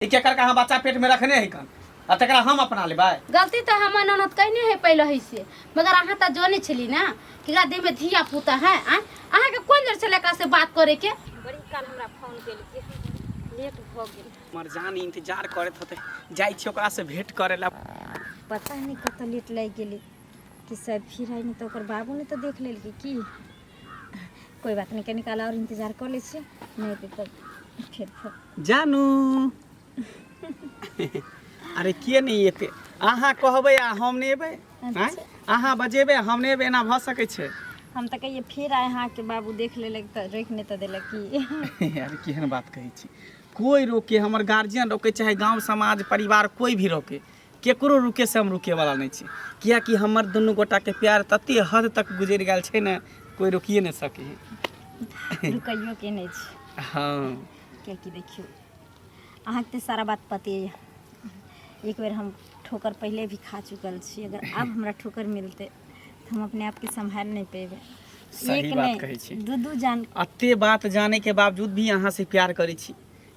ई केकर कहाँ बच्चा पेट में रखने है कन आ तकरा हम अपना लेबै गलती तो हम ननद कहने है पहले ही से मगर अहाँ तो जाने छली ना कि एकरा देह में धिया पुता है आ अहाँ के कोन जर छले एकरा से बात करे के बड़ी काल हमरा फोन केली कि लेट भ गेल हमर जान इंतजार करत होते जाइ छी ओकरा से भेंट करे ला पता नहीं कत लेट लग गेली कि सब फिर आई नहीं तो ओकर बाबू ने तो देख लेलके की कोई बात नहीं कनी काल और इंतजार कर ले छी नहीं तो तब फिर फोन जानू अरे किए नहीं एते अहाँ कहबै आ हम नहीं एबै आँय? अहाँ बजेबै आ हम नहीं एबै एना भऽ सकै छै हम तो कहिए फिर आए हाँ के बाबू देख लेलक तो रोक नहीं तो देलक की अरे केहन बात कहै छी कोई रोके हमर गार्जियन रोके चाहे गांव समाज परिवार कोई भी रोके केकरो रुकैसँ हम रुकैवला नहि छी किएक कि हमर दुनू गोटाके प्यार तते हद तक गुजरि गेल छै ने कोइ रोकिये नहि सकै है रुकैयोके नहि छै हँ किएक कि देखियौ अहाँके तऽ सारा बात पते यऽ एक बेर हम ठोकर पहिले भी खा चुकल छी अगर आब हमरा ठोकर मिलतै तऽ हम अपने आपके सम्हारि नहि पेबै सही एक बात कहै छी। नहि दू दू जान एते बात जाने के बावजूद भी अहाँ से प्यार करै छी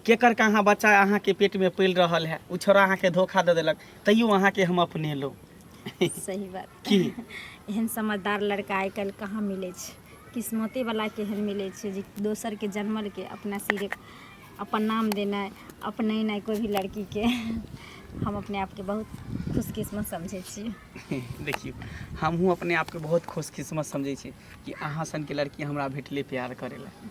केकर कहाँ बच्चा अहाँके पेटमे पलि रहल है ओ छोड़ा अहाँके धोखा दऽ देलक तैयो अहाँके हम अपने लो सही बात की एहन समझदार लड़का आइ काल्हि कहाँ मिलै छै किस्मते वाला के एहन मिलै छै जे दोसर के जन्मल के अपना सिरे अपन नाम देनाइ अपने नहि कोई भी लड़की के हम अपने आपके बहुत खुशकिस्मत समझै छियै देखियौ हमहूँ अपने आपके बहुत खुशकिस्मत समझै छी कि अहाँ सनके लड़की हमरा भेटलै प्यार करै लए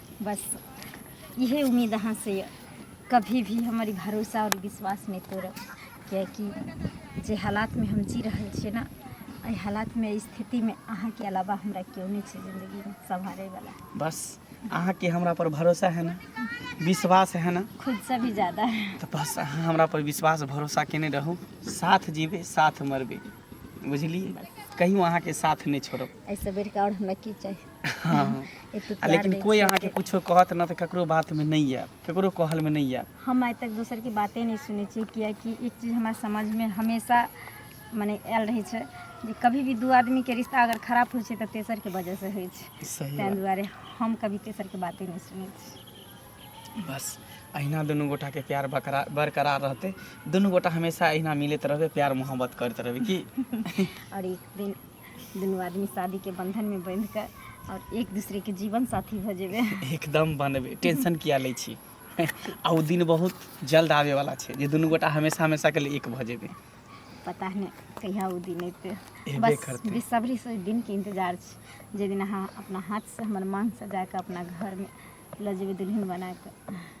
बस इहे उम्मीद अहाँ से यऽ कभी भी हमर ई भरोसा और विश्वास नहि तोड़ब कियाकि जे हालात में हम जी रहल छियै ना एहि हालात में स्थिति में अहाँ के अलावा हमरा केओ नहि छै जिंदगी में संभाले वाला बस अहाँ के हमरा पर भरोसा है ना विश्वास है ना खुद से भी ज्यादा तो बस अहाँ हमरा पर विश्वास भरोसा केने रहू साथ जीबे साथ मरबे बुझलिए कहियो अहाँ के साथ नहीं छोड़ब ऐसे बेर का और हमरा की चाहिए हँ। एते आ प्यार लेकिन दै कोई छियै अहाँके एते- कुछो कहत न तऽ ककरो बातमे नहि आयब ककरो कहलमे नहि आयब हम आइ तक दोसर के बाते नहि सुनै छियै कियाकि एक चीज हमरा समझमे हमेशा मने आयल रहै छै जे कभी भी दू आदमी के रिश्ता अगर खराब होइ छै तऽ तेसर के वजह से होइ छै सही ताहि बात। दुआरे हम कभी तेसर के बाते नहि सुनै छी बस अहिना दुनू गोटाके प्यार बकरा- बरकरार रहतै दुनू गोटा हमेशा अहिना मिलैत रहबै प्यार मोहब्बत करैत रहबै की और एक दिन दुनू आदमी शादी के बंधन में बंध के और एक दूसरे के जीवन साथी भ जेबे एकदम बनबे टेंशन किया लै छी आ ओ दिन बहुत जल्द आवे वाला छै जे दुनू गोटा हमेशा हमेशा के लिए एक भ जेबे पता नहीं कहिया वो दिन अयते एबे बस करतै। बेसब्री से ओहि दिन के इंतजार छै जे दिन अहाँ अपना हाथ से हमर मांग सजा के अपना घर में ल जेबे दुल्हन बना के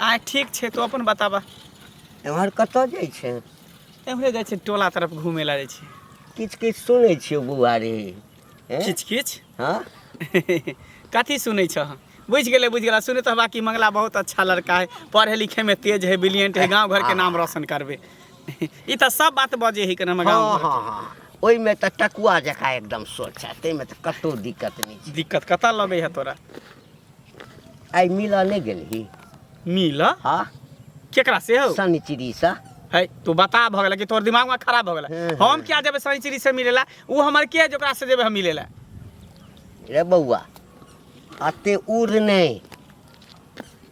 आ ठीक छै तो अपन बताबा एम्हर कतऽ जाइ छै एम्हरे जाइ छै टोला तरफ घूमे ला जाइ छै किछु किछु सुनै छियौ बौआ रे एँ? किछ किछ हँ कथी सुनै छह बुझि गेलै बुझि गेला सुनै तऽ बाकी मंगला बहुत अच्छा लड़का है पढ़े लिखे में तेज है ब्रिलियंट है गांव घर के नाम रोशन करबे ई तऽ सब बात बजे है कने हमर गांव हँ घर हँ हँ ओहिमे तऽ टकुआ जकाँ एकदम सोच है ताहिमे तऽ कतहु दिक्कत नहि छै दिक्कत कतऽ लगे है तोरा आइ मिलऽ नहि गेलही मिल हाँ केकरा से हो शनिचरी से है तू बता भऽ गेला कि तोर दिमाग में खराब भऽ गेला हम्म, हम्म। हम क्या जेबे सैचरी से मिलेला ऊ हमर के जोकरा से जेबे हम मिलेला रे बौआ अते उड़ नहि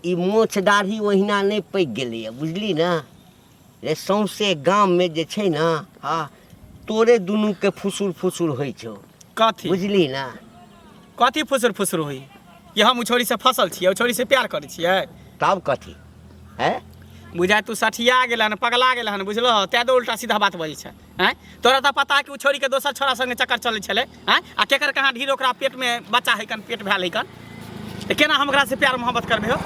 ई मोछ दाढ़ी ओहिना नहि पैक गेलैए बुझली ने जे सौंसे गाममे जे छै ने आ तोरे दुनूके फुसुर फुसुर होइ छौ कथी बुझली ने कथी फुसुर फुसुर होई कि हम उछौरी से फसल छियै उछौरी से प्यार करै छियै तब कथी है बुझाय तू सठिया गेल हन पगला गेल हन बुझलह तै तो उल्टा सीधा बात बजै छै आँय तोरा तऽ पता है कि ओ छोड़ीके दोसर छोड़ा सङ्गे चक्कर चलै छलै आँय आ केकर कहाँ ढीर ओकरा पेटमे बच्चा है कन पेट भेल है कन तऽ केना हम ओकरासँ प्यार मोहब्बत करबै हो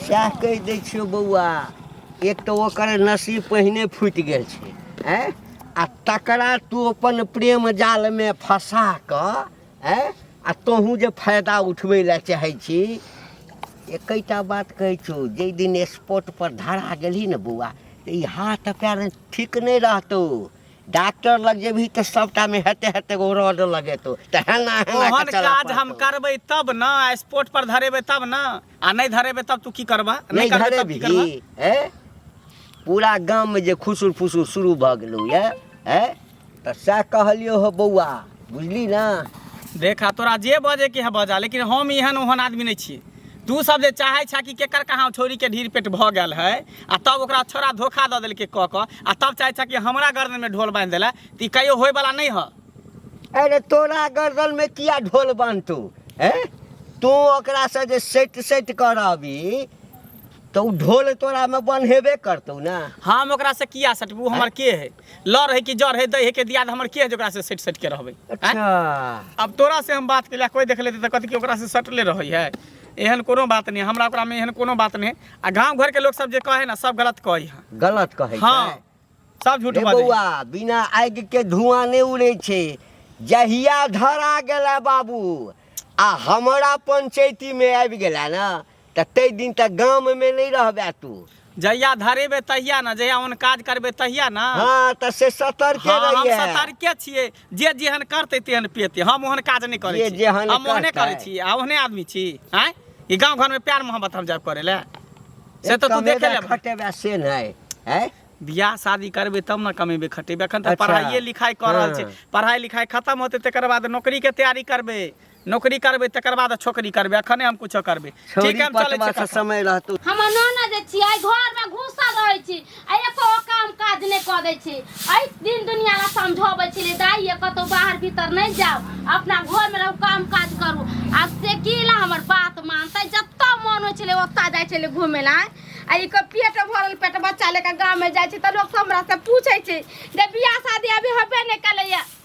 सएह कहि दै छियौ बौआ एक तऽ ओकर नसीब पहिने फूटि गेल छै आँय आ तकरा तू अपन प्रेम जालमे फँसा कऽ आँय आ तोहूँ जे फायदा उठबै लए चाहै छी एकैटा बात कहै छौ जाहि दिन स्पॉट पर धरा गेलही ने बौआ तऽ ई हाथ पैर ठीक नहि रहतौ डॉक्टर लग जेबही तऽ सबटा मे हेते हेते एगो रॉड लगेतौ तऽ हेना हेना के ओहन चलऽ काज हम पड़तौ। करबै तब ने आ स्पोर्ट पर धरेबै तब ने आ नहि धरेबै तब तू की करबह नहि करबै तब की करबह धरेबही ए पूरा गाम में जे खुसुर फुसुर शुरू भऽ गेलौ ये ए तऽ सएह कहलियौ हो बौआ बुझली ने देखा तोरा जे बजे के है बजा लेकिन हम एहन ओहन आदमी नहीं छी तू सब जे चाहे छा कि केकर कहाँ छोरी के ढीर पेट भ गल है आ तब ओकरा छोरा धोखा द दिल के क क आ तब चाहे छा कि हमरा गर्दन में ढोल बांध दिला तो ई कहियो होए वाला नहीं है अरे तोरा गर्दन में किया ढोल बांधतू हैं तू ओकरा से जे सेट सेट करबी तो उ ढोल तोरा में बन्हेबे करतौ ना हम ओकरा से किया सटबू हमर के है लड़ है कि जड़ है दै है के दियाद हमर के है जोकरा से सेट सेट के रहबै अच्छा अब तोरा से हम बात केला कोई देख लेते त कथि के ओकरा से सटले रहै है एहन कोनो बात नहीं हमरा ओकरा में एहन कोनो बात नहीं आ गांव घर के लोग सब जे कहे ना सब गलत कहे है गलत कहै छै हाँ सब झूठ रे बात बौआ बिना आगि के धुआं नहीं उड़े छै जहिया धरा गेला बाबू आ हमारा पंचायती में आबि गेला ना तऽ ताहि दिन तक गाममे नहि रहबे तू जहिया धरेबे तहिया ने जहिया ओहन काज करबे तहिया ने हँ तऽ से सतर्के हाँ, हम रहिए सतर्के छियै जे जेहन करतै तेहन पेतै हम ओहन काज नहि करै जे छी जेहन हम ओहने करतै। करै छी आ ओहने आदमी छी आँय ई गाँव घरमे प्यार मोहब्बत हम जायब करै लए से तऽ तू देखे ले खटेबे से नहि है बियाह शादी करबै तब ने कमेबै खटेबै एखन तऽ अच्छा। पढ़ाइए लिखाइ कऽ रहल छै हाँ। पढ़ाइ लिखाइ खतम होतै तकर बाद नौकरीके तैयारी करबै नौकरी करबै तकर बाद छोकरी करबै अखने हम कुछो करबै ठीक छौरी है हम चलै पटवा छी से समय रहतौ हम नाना जे छियै घर में घुसल रहै छी आ एको काम काज नहि कऽ दै छी एहि दिन दुनिया ला समझबै छी दाई ये कतौ बाहर भीतर नहि जाओ अपना घर में रहू काम काज करू आ से की ला हमर बात मानतै जतऽ मन होइ छलै ओतऽ जाइ छलै घुमै ला आ ई के पेट भरल पेट बच्चा लेके गाँव में जाइ छी तऽ लोग हमरा से पूछै छै जे बियाह शादी अभी होबे नहि केलैया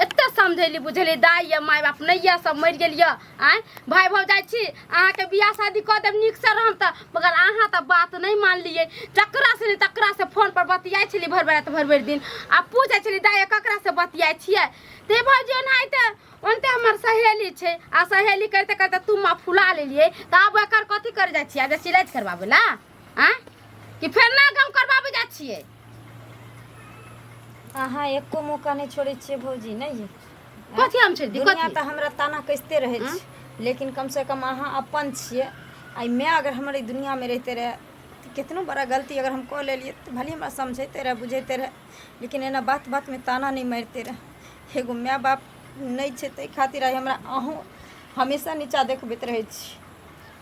एते समझेली बुझेली दाई या माय बाप नहीं या सब मर गेल या आय भाई भौ जाय छी अहाँ के बियाह शादी क देब नीक से रहम त मगर अहाँ त बात नहीं मानलिए जकरा से नहीं तकरा से फोन पर बतियाय छली भर भर रात भर भर दिन आ पूछे छली दाई ककरा से बतियाय छिए ते भौजी ओना आइते ओनते हमर सहेली छै आ सहेली करते करते तुम फुला लेलिए त आब एकर कथी कर जाय छिए आ जे सिलाइ करबाबे ला आ कि फेर ना गाँव करबाबे जाइ छियै अहाँ एको मौका नहि छोड़ै छियै भौजी नहि कथी हम छोड़ि दी दुनिया कथी तऽ हमरा ताना कसिते रहै हँ? छै लेकिन कम से कम अहाँ अपन छियै आ मैं अगर हमर ई दुनियामे रहिते रहै तऽ केतनो बड़ा गलती अगर हम कऽ लेलियै तऽ भले हमरा समझैते रहै बुझैते रहै लेकिन एना बात बातमे ताना नहि मारिते रहै एगो माय बाप नहि छै ताहि खातिर आइ हमरा अहूँ हमेशा नीचा देखबैत रहै छी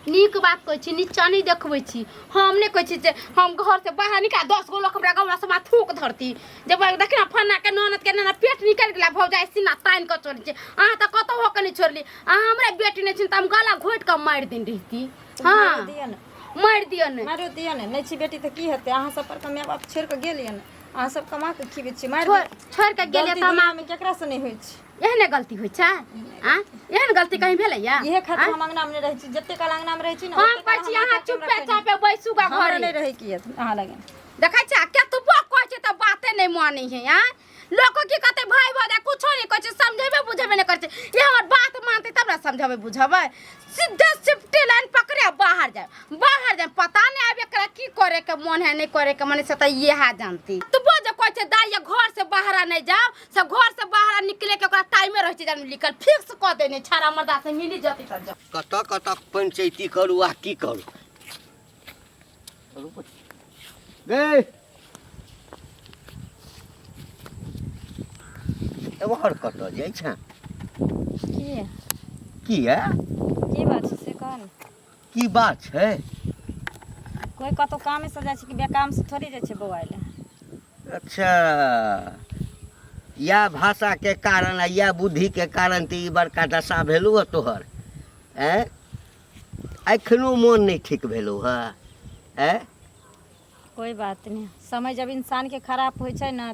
नीक बात कहै छी नीचा नहि देखबै छी हम नहि कहै छी जे हम घरसँ बाहर निकाल दस गो लोक हमरा गाँवमे समा थूक धरती जे बा- देखिन ने फन्नाके ननदके नेना पेट निकलि गेला भौजाइ सीना तानि कऽ चोरी छै अहाँ तऽ कतहु होके नहि छोड़ली अहाँ हमरा बेटी नहि छी तऽ हम गला घोटि कऽ मारि दिन रहिती मारो हँ दिअ ने मारि दिअ ने मारो दिअ ने नहि छी बेटी तऽ की हेतै अहाँ सब पर माय बाप छोड़ि कऽ गेलियै ने अहाँ सब कमा कऽ खीबै छी मारि छोड़ दिअ। छोड़ि कऽ गेलियै गलती तऽ हम दुनियामे केकरासँ नहि होइ छै एहने गलती होइ छै आ एहन गलती कहीं भेलैया इहे खातिर आँय? हम अंगना में रहै छी जते काल अंगना में रहै छी ना हम ओते कहै काल छी हमरा अहाँ कते चुपे हमरा चापे बैसू गा हमरा घर नहि रहै की अछि, अहाँ लगे देखै छै केतबो कहै छै तऽ बाते नहि मानै है आ लोको की कहते भाई भौजा कुछो नहि कहै छै समझेबे बुझेबे नहि करै छै ई हमर बात मानतै तब ने समझेबै बुझेबै सीधे सिफ्टी लाइन पकड़े आ बाहर जाए बाहर जाए पता नहि आब एकरा की करे के मन है नहि करे के मन है से तऽ इएह जानती तू बोझ कहै छै दाइया घर से बाहर नहि जाओ से घर से बाहर निकले के ओकरा टाइमे रह छै जान लिखल फिक्स क देने छारा मर्दा से मिली जति त जा कतऽ कतऽ पंचैती करू आ की करू गए एम्हर कतऽ जाइ छै के की है की बात छै से कह ने की बात छै कोइ कतहु कामेसँ जाइ छै कि बेकामसँ थोड़े जाइ छै बौआ लए अच्छा इएह भाषाके कारण आ इएह बुद्धिके कारण तऽ ई बड़का दशा भेलौ हँ तोहर आँय एखनो मोन नहि ठीक भेलौ हँ आँय कोई बात नहि समय जब इंसानके खराब होइ छै ने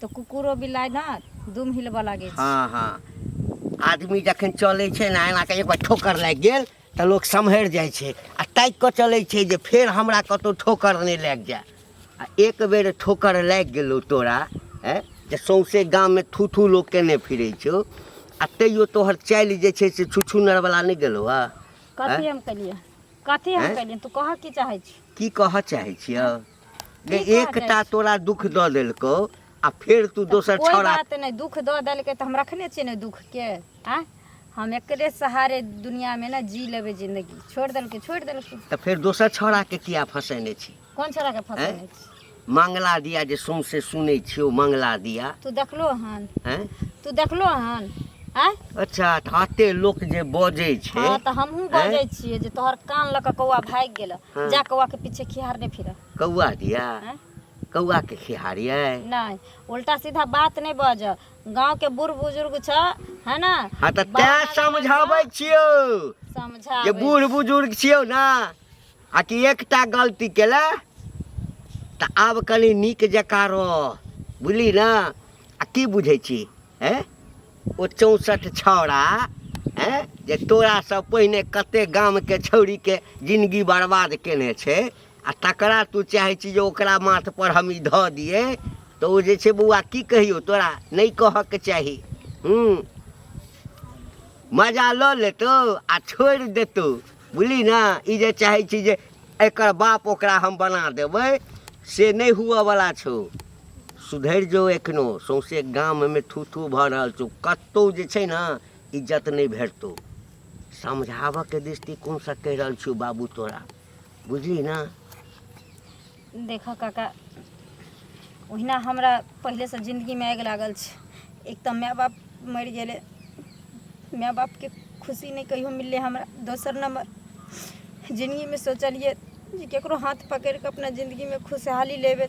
तऽ कुकुरो बिलाइ ने दुम हिलबऽ लागै छै हँ हँ आदमी जखन चलै छै ने एना कऽ एक बेर ठोकर लागि गेल तऽ लोक सम्हरि जाइ छै आ ताकि कऽ चलै छै जे फेर हमरा कतहु ठोकर नहि लागि जाय आ एक बेर ठोकर लागि गेलौ तोरा हैं जे सौंसे गाममे थू थू लोक केने फिरै छौ आ तैयो तोहर चालि जे छै से छुछुनरवला नहि गेलौ हँ कथी हम केलियै कथी हम कलियनि तू कहऽ की चाहै छी की कहऽ चाहै छियौ जे एकटा तोरा दुख दऽ देलकौ आ फेर तू दोसर कोई छौड़ा बात नहीं दुख दऽ देलकै तऽ हम रखने छियै ने दुख के आ हम एकरे सहारे दुनिया में ना जी लेबै जिंदगी छोड़ देलकै छोड़ देलकै तऽ फेर दोसर छौड़ा के किया फसेने छी कोन छोरा के फंसे हैं? अछि मंगला दिया जे सौंसे सुनै छियै ओ मंगला दिया तू देखलो हन हैं? तू देखलो हन आय अच्छा तऽ अते लोक जे बजै छै हाँ तऽ हमहूँ हैं? बजै छियै जे तोहर कान लऽ कऽ कौआ भागि गेल हाँ। जा कौआ के पीछे खिहार नहि फिरऽ कौआ दिया हैं? कौआ के खिहारियै नहीं उल्टा सीधा बात नहीं बज गांव के बूढ़ बुजुर्ग छ है ना हाँ तऽ बड़ा तैं बड़ा समझाबै छियौ समझा जे बूढ़ बुजुर्ग छियौ ने आ कि एकटा गलती केला तऽ आब कनि नीक जकाँ रह बुझली ने आ की बुझै छी हैं ओ चौंसठ छौड़ा हैं जे तोरासँ पहिने कते गामके छौड़ीके जिनगी बर्बाद केने छै आ तकरा तू चाहै छी जे ओकरा माथपर हम ई धऽ दियै तऽ ओ जे छै बौआ की कहियौ तोरा नहि कहऽके चाही हूँ मजा लऽ लेतौ आ छोड़ि देतौ बुझली ने ई जे चाहै छी जे एकर बाप ओकरा हम बना देबै से नहि हुअवला छौ सुधरि जो एखनो सौंसे गाममे थू थू भऽ रहल छौ कतहु जे छै ने इज्जत नहि भेटतौ समझाबऽके दृष्टिकोणसँ कहि रहल छियौ बाबू तोरा बुझली ने देखऽ काका ओहिना हमरा पहिलेसँ जिनगीमे आगि लागल छै एक तऽ माय बाप मरि गेलै माय बापके खुशी नहि कहियो मिललै हमरा दोसर नम्बर जिनगीमे सोचलियै जे ककरो हाथ पकड़ि कऽ अपना जिनगीमे खुशहाली लेबै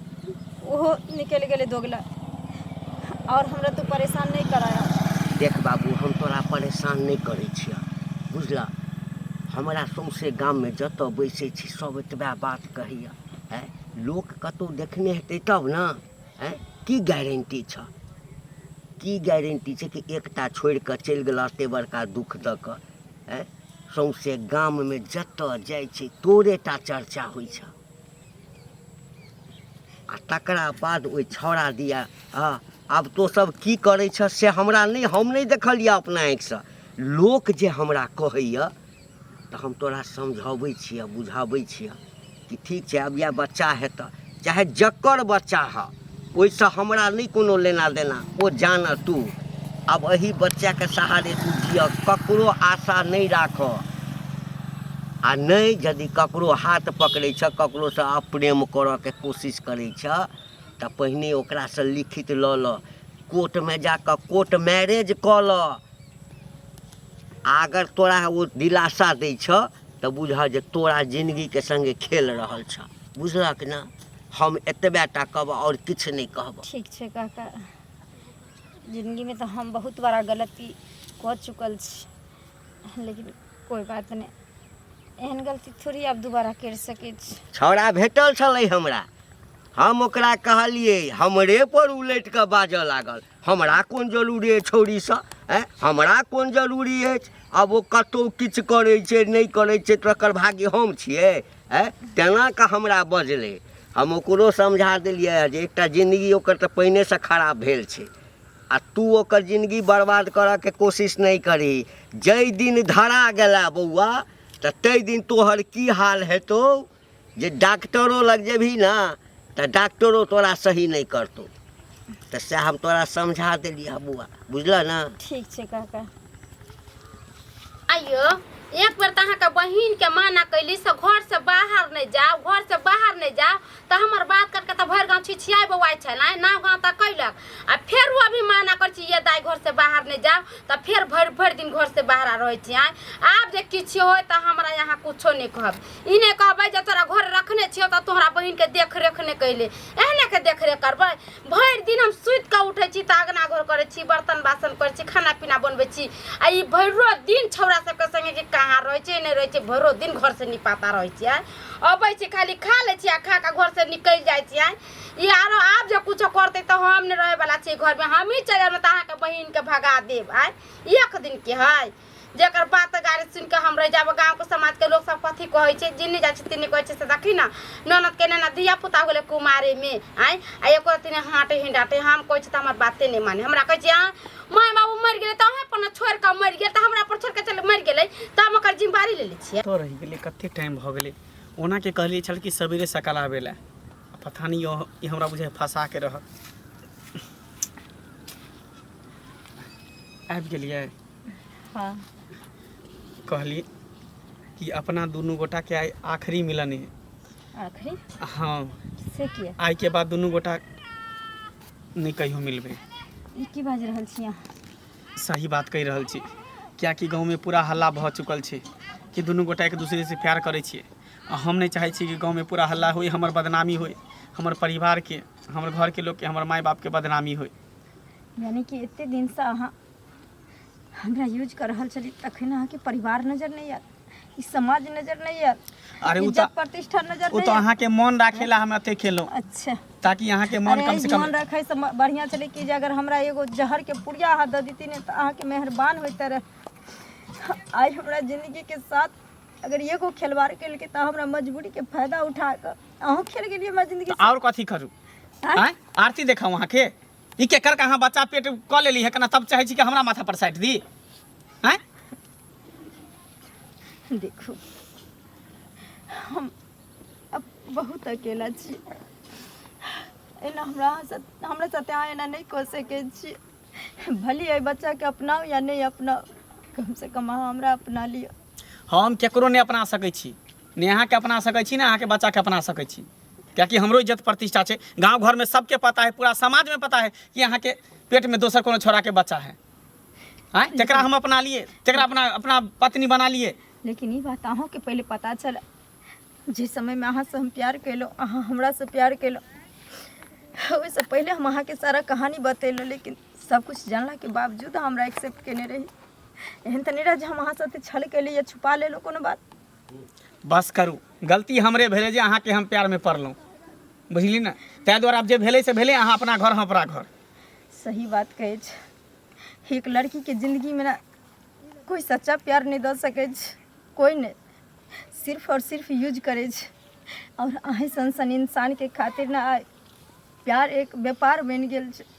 ओहो निकलि गेलै दोगला आओर हमरा तू परेशान नहि कराया देख बाबू हम तोरा परेशान नहि करै छियह बुझलह हमरा सौंसे गाममे जतऽ बैसै छी सब एतबा बात कहैया आँय लोक कतहु देखने हेतै तब ने आँय की गारंटी छऽ की गारंटी छै कि एकटा छोड़ि कऽ चलि गेला एते बड़का दुःख दऽ कऽ आँय सौंसे गाममे जतऽ जाइ छै तोरेटा चर्चा होइ छ आ तकरा बाद ओहि छौड़ा दिया हँ आब तो सब की करै छ से हमरा नहि हम नहि देखलिया अपना आँखिसँ लोक जे हमरा कहैया तऽ हम तोरा समझाबै छिअ बुझाबै छिअ कि ठीक छै आब इएह बच्चा हेतऽ चाहे जकर बच्चा हऽ ओहिसँ हमरा नहि कोनो लेना देना ओ जानऽ तू आब एहि बच्चाके सहारे तू जिअ ककरो आशा नहि राखऽ आ नहि यदि ककरो हाथ पकड़ै छह ककरोसँ अप्रेम करऽके कोशिश करै छह तऽ पहिने ओकरासँ लिखित लऽ लऽ कोर्टमे जा कऽ कोर्ट मैरेज कऽ लऽ आ अगर तोरा ओ दिलासा दै छ तऽ बुझह जे तोरा जिनगीके सङ्गे खेल रहल छ बुझलक ने हम एतबे टा कहबह आओर किछु नहि कहबह ठीक छै काका जिनगीमे तऽ हम बहुत बड़ा गलती कऽ चुकल छी लेकिन कोइ बात नहि एहन गलती थोड़ी आब दोबारा करि सकै छी छौड़ा भेटल छलै हमरा हम ओकरा कहलियै हमरे पर उलटि कऽ बाजऽ लागल हमरा कोन जरूरी अछि छौड़ीसँ आँय हमरा कोन जरूरी अछि आब ओ कतहु किछु करै छै नहि करै छै तकर भागी हम छियै आँय तेना कऽ हमरा बजलै हम ओकरो समझा देलियै हँ जे एकटा जिनगी ओकर तऽ पहिनेसँ खराब भेल छै आ तू ओकर जिनगी बर्बाद करयके कोशिश नहि करही जाहि दिन धरा गेलह बौआ तऽ ताहि दिन तोहर की हाल हेतौ जे डॉक्टरो लग जेबही ने तऽ डॉक्टरो तोरा सही नहि करतौ तऽ सएह हम तोरा समझा देलियै बौआ बुझलह ने ठीक छै काका आइयो एक बेर तऽ अहाँके बहिनके माना कैली से घरसँ बाहर नहि जाउ घरसँ बाहर नहि जाउ तऽ हमर बात करके तऽ भरि गाँव छिछियाइ बौआइ छल आइ नाव गाँव तऽ कैलक आ फेरो अभी माना करै छी ये दाइ घरसँ बाहर नहि जाउ तऽ फेर भरि भरि दिन घरसँ बाहर रहै छी आइ आब जे किछु होय तऽ हमरा यहाँ किछो नहि कहब ई नहि कहबै जे तोरा घर रखने छियौ तऽ तोहरा बहिनके देखरेख नहि कैले एहनेके देखरेख करबै भरि दिन हम सुति कऽ उठै छी तऽ अगना घर करै छी बर्तन बासन करै छी खाना पीना बनबै छी आ ई भरिो दिन छौड़ा सबके संगे कि कहाँ रहै छै नहि रहै छै भरिो दिन घर से निपाता रहै छियै अबै छी खाली खा लै छी आ खा कऽ घर से निकलि जाइ छियै ई आरो आब जे कुछो करतै तऽ हम नहि रहै बला छी घरमे हमही चलि जायब तऽ अहाँके बहिनके भगा देब आय एक दिन के है जेकर बात गाड़ी सुन के हम रह जाब गांव के समाज के लोग सब कथी कहै छै जिन्नी जाइ छै तिन्नी कहै छै से देखी ना ननद के ना धिया पुता होले कुमारे में आय आ एको रति ने हाटे ही डाटे हम कहै छै त हमर बाते नहीं माने हमरा कहै छै आ माय बाबू मर गेले त अहे पर ना छोड़ के मर गेल त हमरा पर छोड़ के चल मर गेले त हम ओकर जिम्मेदारी ले ले छिए तो रह गेलै कते टाइम भऽ गेलै ओना के कहलियै छल कि सवेरे सकाल आबै लए आ पता नहि यह- ई हमरा बुझाइ फंसा के रहत आबि गेलियै हँ कहली कि अपना दुनू गोटा के आइ आखिरी मिलन है आखिरी हाँ से किया आइ के बाद दुनू गोटा नहि कहियो मिलबै ई की बाजि रहल छी अहाँ सही बात कहि रहल छी कियाकि गाँवमे पूरा हल्ला भऽ चुकल छै कि दुनू गोटा एक दूसरे से प्यार करै छियै आ हम नहि चाहै छी कि गाँवमे पूरा हल्ला होय हमर बदनामी होय हमर परिवारके हमर घरके लोकके हमर माय बापके बदनामी होय यानी कि एते दिन से अहाँ हमरा यूज कर रहल छली तखन अहाँके परिवार नजर नहीं आयल ई समाज नजर नहीं आयल अरे उ इज्जत प्रतिष्ठा नजर उ नहीं तो आयल। अहाँ के मन राखे ला हम अते खेलो अच्छा ताकि अहाँ के मन अरे, कम से कम मन रखे से म- बढ़िया चले कि जे अगर हमरा एगो जहर के पुड़िया अहाँ दे देती ने तो अहाँ के मेहरबान होते रहे आई हमरा जिंदगी के साथ अगर एगो खिलवाड़ के लेके तो हमरा मजबूरी के फायदा उठा कर अहूँ खेल गेलिए हमरा जिंदगी से और कथी करू आँय? आँय? आरती देखाऊ अहाँ के ई केकर कहाँ बच्चा पेट कऽ लेली है केना तब चाहै छी कि हमरा माथा पर साटि दी आँय देखू हम अब बहुत अकेला छी एना हमरा अहाँ साथ- हमरा साथे अहाँ एना नहि कऽ सकै छी भली एहि बच्चाके अपनाउ या नहि अपनाउ कमसँ कम अहाँ हमरा अपना लिअ हम केकरो नहि अपना सकै छी ने अहाँके अपना सकै छी ने अहाँके बच्चाके अपना सकै छी कियाकि हमरो इज्जत प्रतिष्ठा छै गाँव घरमे सबके पता है पूरा समाजमे पता है कि अहाँके पेटमे दोसर कोनो छोराके बच्चा है आँय जकरा हम अपना लिए जकरा अपना अपना पत्नी बना लिए लेकिन ई बात अहूँके पहिले पता छल जे समयमे अहाँसँ हम प्यार केलहुँ अहाँ हमरासँ प्यार केलहुँ ओहिसँ पहिले हम अहाँके सारा कहानी बतेलहुँ लेकिन सब कुछ जानलाके बावजूद अहाँ हमरा एक्सेप्ट केने रही एहन तऽ नहि रहै जे हम अहाँ साथे छल केली या छुपा लेलहुँ कोनो बात बस करू गलती हमरे भेलै जे अहाँके हम प्यारमे पड़लहुँ बुझली ने ताहि दुआरे आब जे भेलै से भेलै अहाँ अपना घर हम अपना घर सही बात कहै छै एक लड़कीके जिन्दगीमे ने कोइ सच्चा प्यार नहि दऽ सकै छै कोइ नहि सिर्फ आओर सिर्फ यूज करै छै आओर अहीँ सन सन इंसानके खातिर ने आइ प्यार एक व्यापार बनि गेल छै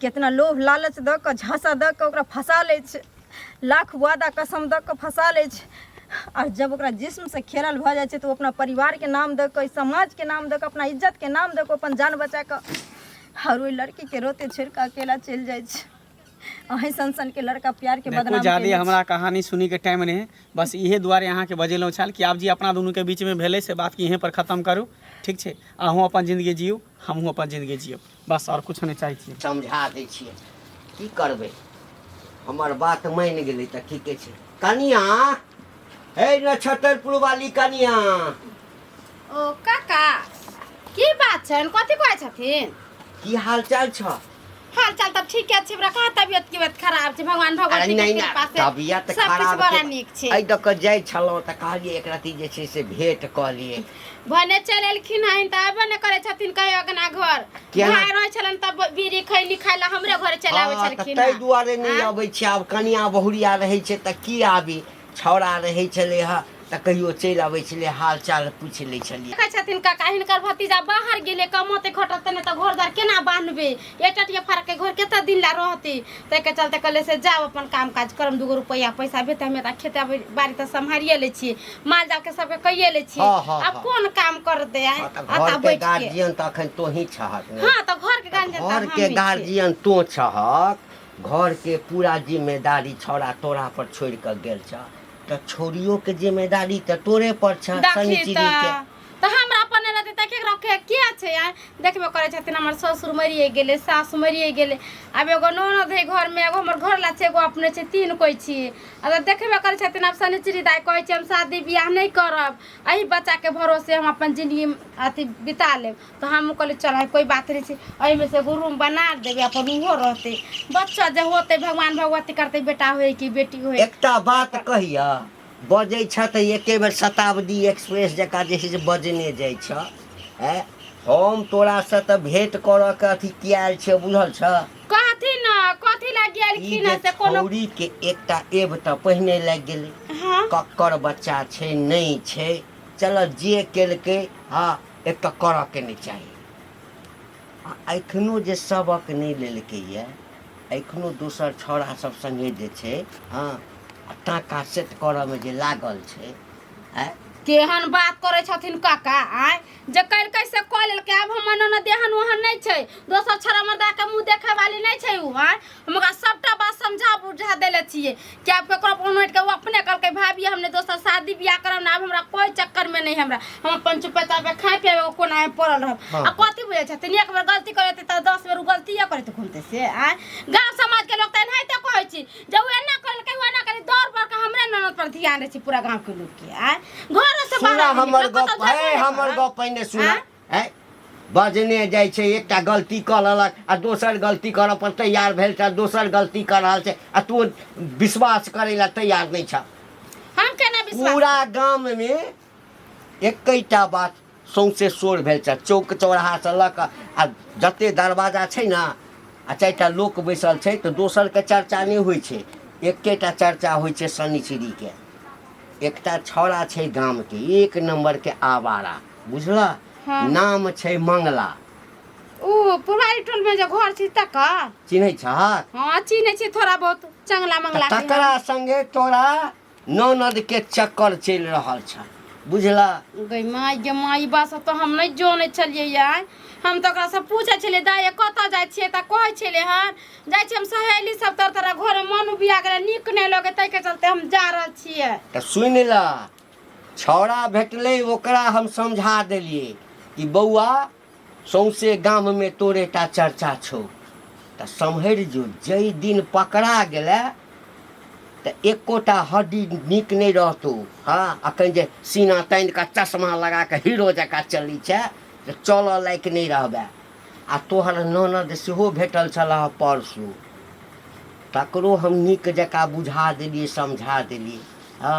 कितना लोभ लालच दऽ कऽ झाँसा दऽ कऽ ओकरा फँसा लै छै लाख वादा कसम दऽ कऽ फँसा लै छै आओर जब ओकरा जिस्मसँ खेलल भऽ जाइ छै तऽ ओ अपना परिवारके नाम दऽ कऽ समाजके नाम दऽ कऽ अपना इज्जतके नाम दऽ कऽ अपन जान बचा कऽ हर ओहि लड़कीके रोते छोड़ि कऽ अकेला चलि जाइ छै अहीं सन सन के लड़का प्यार के देखो बदनाम जादे केने छै। हमरा कहानी सुनी के टाइम नहीं है बस इहे दुआरे अहाँ के बजेलहुँ छल कि आप जी अपना दुनू के बीच में भेले से बात के यहीं पर खत्म करू ठीक छै अहूँ अपन जिंदगी जियू हमहूँ अपन जिंदगी जियब बस आओर किछु नहि चाहै छियै समझा दै छियै की करबै हमर बात मानि गेलै तऽ ठीके छै कनिया हे नक्षत्रपुर वाली कनिया ओ काका की बात छनि कथी कहै छथिन की हाल चाल छ हाल चाल तऽ ठीके छै हमरा कहाँ तबियत की बात खराब छै भगवान अरे भगवती के नहि कृपा ना से तबियत सब खराब किछु बड़ा छै। नीक छै एहि दऽ कऽ जाइ छलहुँ तऽ कहलियै एक रत्ती जे छै से भेँट कऽ लिए भने चलि एलखिन हन तऽ अयबे ने करै छथिन कहियो अगना घर किया ने? भाय रहै छलन तब बीड़ी खैनी खाय ला हमरे घर चलि आबै हाँ, तऽ छलखिन ताहि हन। दुआरे नहि आँ? अबै छी आब कनिया बहुरिया रहै छै तऽ की आबी छौड़ा रहै छलै हँ तऽ कहियो चलि अबै छलै हाल चाल पूछि लै छलियै देखै छथिन काका हिनकर भतीजा बाहर गेलै कमाते खटते नहि तऽ घर द्वार केना बान्हबै ये टटिया फरक के घर केता दिन ला रहती ते के चलते कहले से जाओ अपन काम काज करम दूगो रुपया पैसा भेत हमें ता खेता बाड़ी त संभारिए ले छी माल जाल के सबके कहिए ले छी हाँ, हाँ, अब हाँ। कौन काम कर दे आए हाँ, तऽ अता घर के बैठ के गार्जियन तऽ अखन तोही छहक ने हां तो घर के गांजे घर के गार्जियन तो छहक घर के पूरा जिम्मेदारी छौड़ा तोरा पर छोड़ के गेल छ तऽ छोड़ियो के जिम्मेदारी तऽ तोरे पर छ देखी शनिचरी के तऽ तऽ हमरा अपन नहि रहतै तऽ केकरा के के छै आय देखबे करै छथिन हमर ससुर मरिए गेलै सास मरिए गेलै आब एगो ननद है घरमे एगो हमर घरला छै एगो अपने छै तीन कोइ छी आ तऽ देखबे करै छथिन आब शनिचरी दाइ कहै छै हम शादी बियाह नहि करब एहि बच्चाके भरोसे हम अपन जिनगी अथी बिता लेब तऽ हम कहली चल आइ कोइ बात नहि छै एहिमे से एगो रूम बना देबै अपन ओहो रहतै बच्चा जे होतै भगवान भगवती करतै बेटा होय कि बेटी होय एकटा बात कहिया बजै छह तऽ एके बेर शताब्दी एक्सप्रेस जकाँ जे छै से बजने जाइ छह आँय हम तोरासँ तऽ भेँट करऽ के अथी किया आयल छियै बुझल छह कथी न कथी ला ई गेलखिन जे हँ से कोनो छौरी के एकटा एब तऽ पहिने लागि गेलै हाँ कक्कर बच्चा छै नहि छै चलऽ जे केलकै हँ एक तऽ करऽ के नहि चाही आ एखनो जे सबक नहि लेलकैए एखनो दोसर छौड़ा सब सङ्गे जे छै हँ आ टाका सेट करऽमे जे लागल छै आँय केहन बात करै छथिन काका आँय जे कलकै से कऽ लेलकै आब हमर ननद एहन ओहन नहि छै दोसर छौड़ा मर्दाके मुँह देखै वाली नहि छै ओ आँय हम ओकरा सबटा बात समझा बुझा देले छियै कि आब ककरो फोन उठि के वो अपने कहलकै भाभी हमने दोसर शादी बियाह करब ना आब हमरा कोई चक्कर में नहीं हमरा हम अपन चुपे चापे खाए पिए एगो कोना में पड़ल रहब हाँ। आ कथी बुझे छथिन एक बेर गलती करे हेतै तऽ दस बेर उ गलतिये करैत घूमते से आय गांव समाज के लोग तऽ एनाहिते कहै छी जे उ एना करलकै उ एना करी दौड़ बढ़ के हमरे ननद पर ध्यान रहै छै पूरा गांव के लोग के आय घरो से सुना बाहर हमर निकलल, गप कतहु है जेबे नहि हमर करब। गप पहिने सुना आँय? आँय बजने जाइ छै एकटा गलती कऽ लेलक आ दोसर गलती करऽ पर तैयार भेल छह दोसर गलती कऽ रहल छै आ तू विश्वास करै लए तैयार नहि छह हम केना विश्वास पूरा गाममे एकैटा बात सौंसे शोर भेल छह चौक चौराहासँ लऽ कऽ आ जते दरवाजा छै ने आ चारिटा लोक बैसल छै तऽ दोसरके चर्चा नहि होइ छै एकेटा चर्चा होइ छै शनिचरीके एकटा छौड़ा छै गामके एक नम्बरके आवारा बुझलह हँ। नाम छै मंगला ओ पुरारी टोल में जो घर छी तकर चिन्है छहक हाँ चीने छी थोड़ा बहुत चंगला मंगला के हम। तकरा संगे तोरा ननद के चक्कर चलि रहल छ बुझला गई माय गे माय ई बात सब तो हम नहीं जाने छलिए यार हम तो ओकरा से पूछे छलिए दाई कत जाय छिए त कहे छले हन जाय छी हम सहेली सब तर तोरा घर में मन उबिया गेले नीक नहीं लगे तई के चलते हम जा रहल छिए तऽ सुनि लह छौड़ा भेटलै ओकरा हम समझा देलियै कि बौआ सौंसे गाममे तोरे टा चर्चा छौ तऽ सम्हरि जो जाहि दिन पकड़ा गेलै तऽ एकोटा हड्डी नीक नहि रहतौ हँ अखन जे सीना तानि कऽ चश्मा लगा कऽ हीरो जकाँ चलै छै तऽ चलऽ लायक नहि रहबै आ तोहर ननद सेहो भेटल छलह परसू तकरो हम नीक जकाँ बुझा देलियै समझा देलियै हँ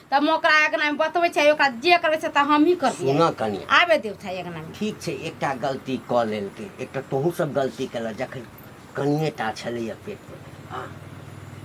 त हम ओकरा अंगना में बतबै छै ओकरा जे करबै से त हमही करबै सुनऽ कनिया आबे देव छै अंगना में ठीक छै एकटा गलती कऽ लेलकै एकटा तोहूँ सब गलती केलक जखन कनिए टा छलैए पेटमे आ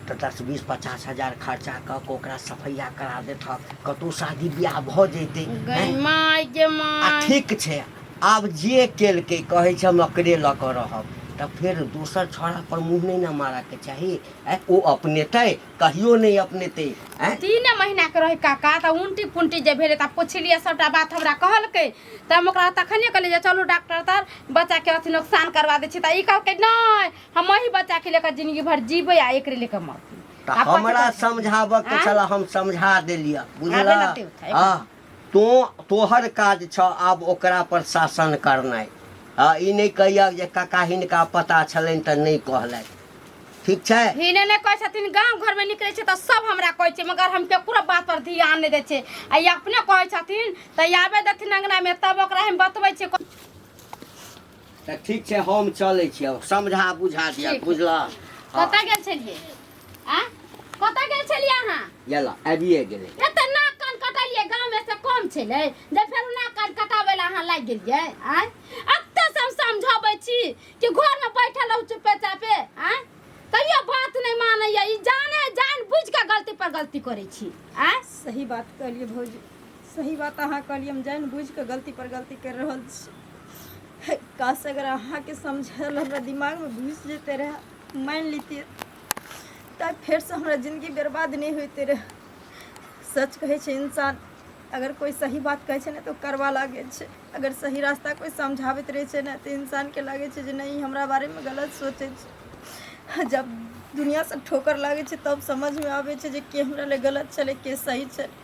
तऽ दस बीस पचास हजार खर्चा कऽ कऽ ओकरा सफैया करा देतहक कतहु शादी बियाह भऽ जैतै गै हैं? माय गे आ माय ठीक छै आब जे केलकै कहै छै हम एकरे लऽ कऽ रहब तऽ फेर दोसर छौड़ापर मुँह नहि ने मारऽके चाही आँय, ओ अपनेतै कहियो नहि अपनेते आँय तीने महीनाके रहै काका तऽ उल्टी पुल्टी जे भेलै तऽ पुछलियै सभटा बात हमरा कहलकै तऽ हम ओकरा तखने कहलियै जे चलू डॉक्टर तर बच्चाके अथी नोकसान करवा दै छी तऽ ई कहलकै नहि हम अही बच्चाके लेकर जिंदगी भर जीबै आ एकरे लेकर मरतै तऽ हमरा समझाबऽ के आँय? छल हम समझा देलियै बुझला आबे ने देउ, आबे। हँ तोँ तोहर काज छह आब ओकरा पर शासन करनाइ। आ ई नहि कहिहक जे कका हिनका पता छलनि तँ नहि कहलथि। ठीक छै? हिने नहि कहै छथिन। गाम घरमे निकलै छियै तँ सभ हमरा कहै छै मगर हम ककरो बात पर धियान नहि दै छियै। आ ई अपने कहै छथिन तँ आबै देथिन अँगनामे तब ओकरा हम बतबै छियै। तऽ ठीक छै हम चलै छियै समझा बुझा दिअ ठीक। बुझलऽ हँ, कतऽ गेल छलियै आ कतऽ गेल छलियै अहाँ गेलऽ आबिए गेलै एते नाक कान कटलियै गाँव में से कम छलै जे फेर नाक कान कटाबै लए अहाँ लागि गेलियै आय एते से हम समझबै छी कि घर में बैठल रहू चुपे चापे आय तैयो बात नहीं मानैया ई जाने जान बुझ के गलती पर गलती करै छी आय सही बात कहलिए भौजी सही बात अहाँ कहलियै हम जानि बुझि कऽ गलती पर गलती करि रहल छी काश अगर अहाँके समझल हमरा दिमागमे घुसि जेतै रहए मानि लितियै तऽ फेरसँ हमरा जिन्दगी बर्बाद नहि होइते रहए सच कहै छै इंसान अगर कोइ सही बात कहै छै ने तऽ ओ करवा लागै छै अगर सही रास्ता कोइ समझाबैत रहै छै ने तऽ इंसानके लागै छै जे नहि ई हमरा बारेमे गलत सोचै छै जब दुनियासँ ठोकर लागै छै तब समझमे आबै छै जे के हमरा लए गलत छलै के सही छलै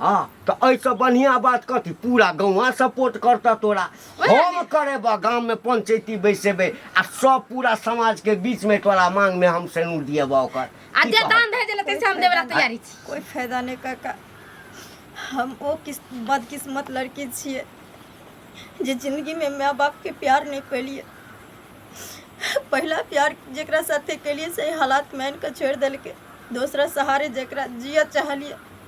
हाँ तो ऐसा बढ़िया बात कथी पूरा गाँव सपोर्ट करता तोरा हम करेबा गाँव में पंचायती बैसेबे आ सब पूरा समाज के बीच में तोरा मांग में हम सेनू दिएबा ओकर आ की जे कहब? दान दहेज लेते से हम देवे ला तैयारी छी कोई फायदा नहीं काका हम वो किस बदकिस्मत लड़की छिए जे जिंदगी में माँ बाप के प्यार नहीं पेलिए पहला प्यार जेकरा साथे केलिए से हालात में आनि के छोड़ दिल के दूसरा सहारे जेकरा जिया चाहलिए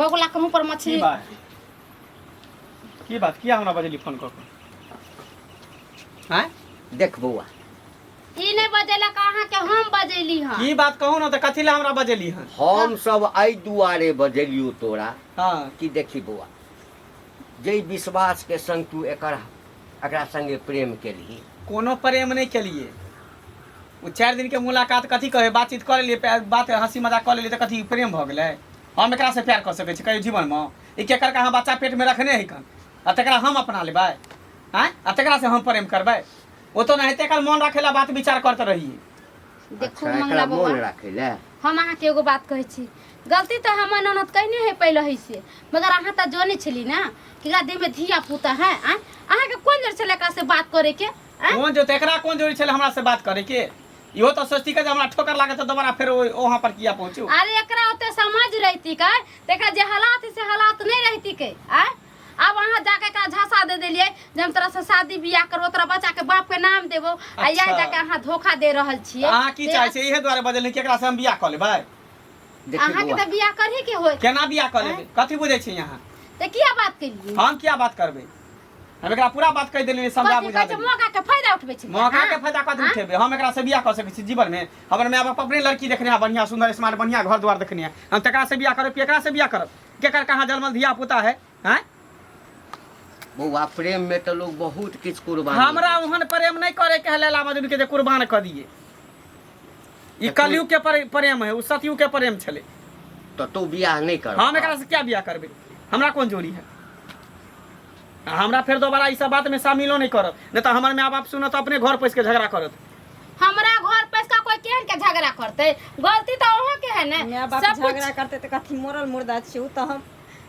बगुला के मुंह पर की मछली बात की बात किया हमरा बजली फोन कऽ के हैं देख बौआ ई नहीं बजेला कहाँ के हम बजेली हाँ की बात कहू ना तऽ कथी लए हमरा बजली हन हम सब एहि दुआरे बजलियो तोरा हँ कि देखी बौआ जै विश्वास के संग तू एकर एकरा संगे प्रेम केलही कोनो प्रेम नहि केलिए ओ चारि दिनके मुलाकात कथी कहै बातचीत कऽ लेलिए पै- बात हँसी मजाक कऽ लेलिए तऽ कथी प्रेम भऽ गेलै हम एकरा से प्यार कर सके छी कहियो जीवन में ई केकर का हम बच्चा पेट में रखने है कन आ तकरा हम अपना लेबै आँय आ तकरा से हम प्रेम करबै ओ तो नहीं तेकर मन रखे ला बात विचार करते रहिए देखू अच्छा, मंगला एकरा बौआ मोन राखे ले हम अहाँके एगो बात कहै छी गलती तऽ हमर ननद कयने है पहिले है से मगर अहाँ तऽ जानै छली ने कि एकरा देहमे धिया पुता है आँय अहाँके कोन जर छलै एकरासँ बात करैके आँय कोन जो तेकरा कोन जोड़ी छले हमरा से बात करे के इहो तो सोचती का जे हमरा ठोकर लागे तो दोबारा फिर ओ- वहाँ पर किया पहुँचू अरे एकरा ओते समझ रहती के तेका जे हालात है से हालात नहीं रहती के आय अब अहाँ जाके एकरा झांसा दे देलिए जे हम तोरा से शादी बियाह करबो तोरा बच्चा के बाप के नाम देबो आ या अच्छा। जाके अहाँ धोखा दे रहल छिए अहाँ की से चाहे छै इहे दुआरे बजल कि एकरा से हम बियाह कऽ लेबै देखिए अहाँ के बौआ, तो बियाह करही के होय केना बियाह कऽ लेबै कथी बुझै छी अहाँ ते किया बात केलिए हम किया बात करबै हम एकरा पूरा बात कहि देलियै समझा कथी बुझा कहै छै देलियै मौका के फायदा उठबै छी मौका के फायदा कथी आँय? उठेबै हम एकरा से बियाह कऽ सकै छी जीवन में हमर माय बाप अपने लड़की देखने है बढ़िया सुंदर स्मार्ट बढ़िया घर द्वार देखने है हम तकरा से बियाह करब कि एकरा से बियाह करब केकर कहाँ जन्मल धिया पुता है हैं बौआ प्रेम में तो लोग बहुत किछु कुर्बानी हमरा ओहन प्रेम नहीं करे के है लैला मजनू के जे कुर्बान कर दिए ई कलयुग के परे- प्रेम है उ सतयुग के प्रेम छले तो तू बियाह नहीं कर हम एकरा से क्या बियाह करबे हमरा कोन जोड़ी है आ हमरा फिर दोबारा ई सब बात में शामिलो नहीं करब नहीं तो हमर माँ बाप सुनत अपने घर पैस के झगड़ा करत हमरा घर पर का कोई केहन के झगड़ा करते गलती तो अहाँ के है ना माय बाप सब कुछ झगड़ा करते तो कथी मोरल मुर्दा छी उ तो हम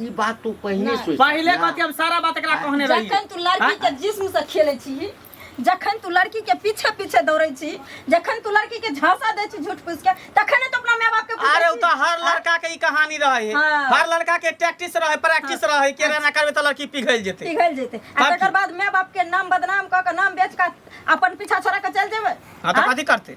ई बात तू पहिने नहि। सोच पहिले कथी हम सारा बात एकरा कहने रही जखन तू लड़की के जिस्म से खेले छी जखन तू लड़की के पीछे पीछे दौड़े छी जखन तू लड़की के झांसा दे छी झूठ फूस के तखन तो अपना माय बाप के पूछे अरे उ छी। तो हर लड़का के ई कहानी रहे है हाँ। हर लड़का के टैक्टिस रहे प्रैक्टिस रहे के ना करबे तो लड़की पिघल जेते पिघल जेते आ बाप तकर बाद माय बाप के नाम बदनाम क के नाम बेच के अपन पीछा छोड़ा के चल जेबे हाँ तो कथी करते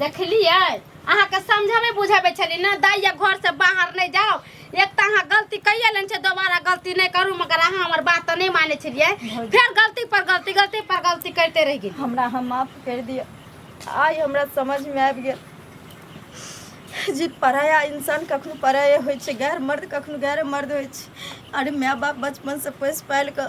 देखलियै अहाँके समझाबै बुझाबै छलियै ने दाइ या घरसँ बाहर नहि जाउ एक तऽ अहाँ गलती कैये लेने छै दोबारा गलती नहि करू मगर अहाँ हमर बात तऽ नहि मानै छलियै भौजी। फेर गलती पर गलती गलती पर गलती करते रहि गेलियै हमरा हम माफ कर दिया आइ हमरा समझ में आबि गेल जे पराया इंसान कखनो पराये होइ छै गैर मर्द कखनो गैर मर्द होइ छै अरे माय बाप बचपन से पोसि पालि कऽ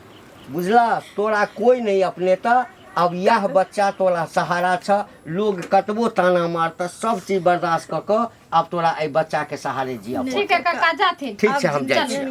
बुझलह तोरा कोई नहीं अपने त अब यह बच्चा तोरा सहारा छ लोग कतबो ताना मारत सब चीज बर्दाश्त क क अब तोरा ए बच्चा के सहारे जिया ठीक है काका जाथिन ठीक छै हम जाइ छी